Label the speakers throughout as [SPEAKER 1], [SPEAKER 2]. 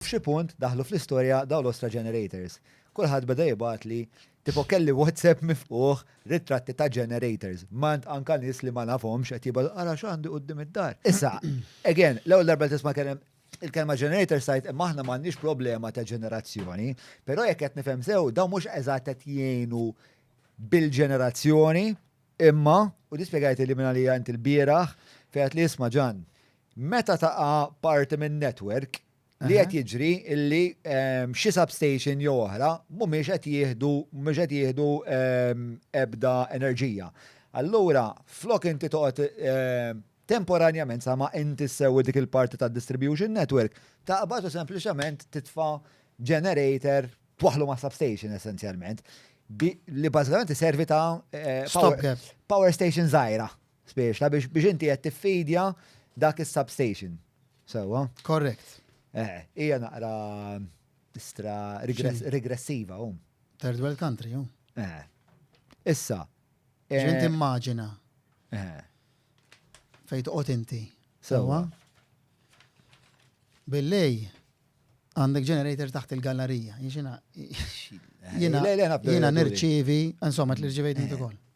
[SPEAKER 1] F'xi punt daħlu fl-istorja dawn l-ostra generators. Kulħadd beda jibgħatli, tipo kelli WhatsApp mifqugħ, ritratti ta' generators. M'għand anka nies li ma nafhomx qed jibgħatu ara x'għandi quddiem id-dar. Issa, again, l-ewwel darba li tisma' kelem il-kelma generators tgħid imma aħna m'għandniex problema ta' ġenerazzjoni, però jekk qed nifhem sew dawn mhux eżatt qed jgħinu bil-ġenerazzjoni imma, u din spjegajtilha minn għalija int il-bieraħ, fejn għedtli isma' Ġann, Meta taqa' parti minn network li qed jiġri illi xi substation jew oħra mhumiex qed jieħdu mhux qed jieħdu ebda enerġija. Allura flok inti toqgħod temporanjament sa ma inti ssewwi dik il-parti tad-distribution network, taqbad u sempliċement titfa' generator twaħħlu mas-substation essenzjalment. Li bażikament iservi ta' power station żgħira. Spiex, biex biex inti qed tiffidja dak is-substation. Sewwa? Correct.
[SPEAKER 2] Eh, hija
[SPEAKER 1] naqra stra regressiva hum. Third world
[SPEAKER 2] country, hum. Eh.
[SPEAKER 1] Issa. Ġint
[SPEAKER 2] eh, immaġina. Eh. Fejt qot inti. Sewwa? Billej, għandek generator taħt il-gallerija. Jina, jina, jina nirċivi, insomma, t-lirċivejt inti kol.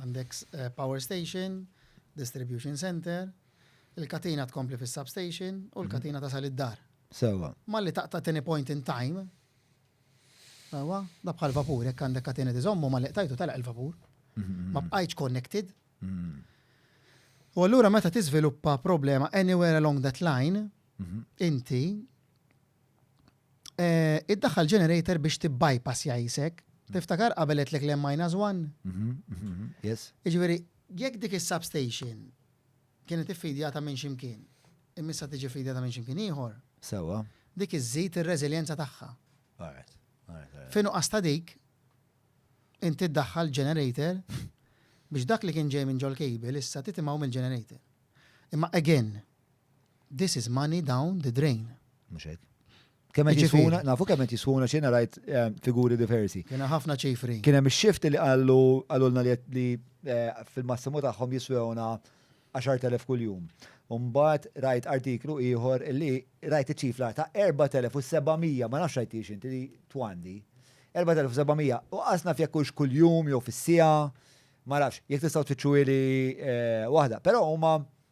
[SPEAKER 2] Għandek power station, distribution centre, il-katina tkompli fis-substation u l-katina tasal id-dar. Sewwa. Malli
[SPEAKER 1] taqta' tieni
[SPEAKER 2] point in time, sewwa, da bħal vapur, jekk għandek katina tiżommu malli qtajtu telaq il-vapur. Ma bqajtx connected. U allura meta tiżviluppa problema anywhere along that line, inti Iddaħħal generator biex tibbypass jajsek. Tiftakar qabel għetlek l minus one? Mhm, mhm, mhm,
[SPEAKER 1] yes. Iġveri,
[SPEAKER 2] jekk dik il-substation kienet iffidjata minn ximkien, immissa tiġi fidjata minn ximkien ieħor. Sewa. Dik
[SPEAKER 1] iżżid
[SPEAKER 2] ir-reżiljenza tagħha. Alright.
[SPEAKER 1] Finu
[SPEAKER 2] qasta dik, inti ddaħħal generator biex dak li kien ġej minn ġol cable issa titimaw mill-generator. Imma again, This is money down the drain. Mhux hekk.
[SPEAKER 1] Kemm qed Jiġifieri. jiswuna, nafu kemm qed jiswuna x'inha rajt eh, figuri diversi. Kien hemm ħafna ċifri.
[SPEAKER 2] Kien hemm ix-shift li qallu
[SPEAKER 1] qalulna li qed- li eh, fil-massimu tagħhom jiswewna 10,000 kuljum. U mbagħad rajt artiklu ieħor li rajt iċ-ċifra ta' 4700, ma nafx rajt hiex inti li twandi. 4700 u qasna fjekk hux kuljum jew fis-siegħa, ma nafx, jekk tistgħu tfittxu li waħda. Però huma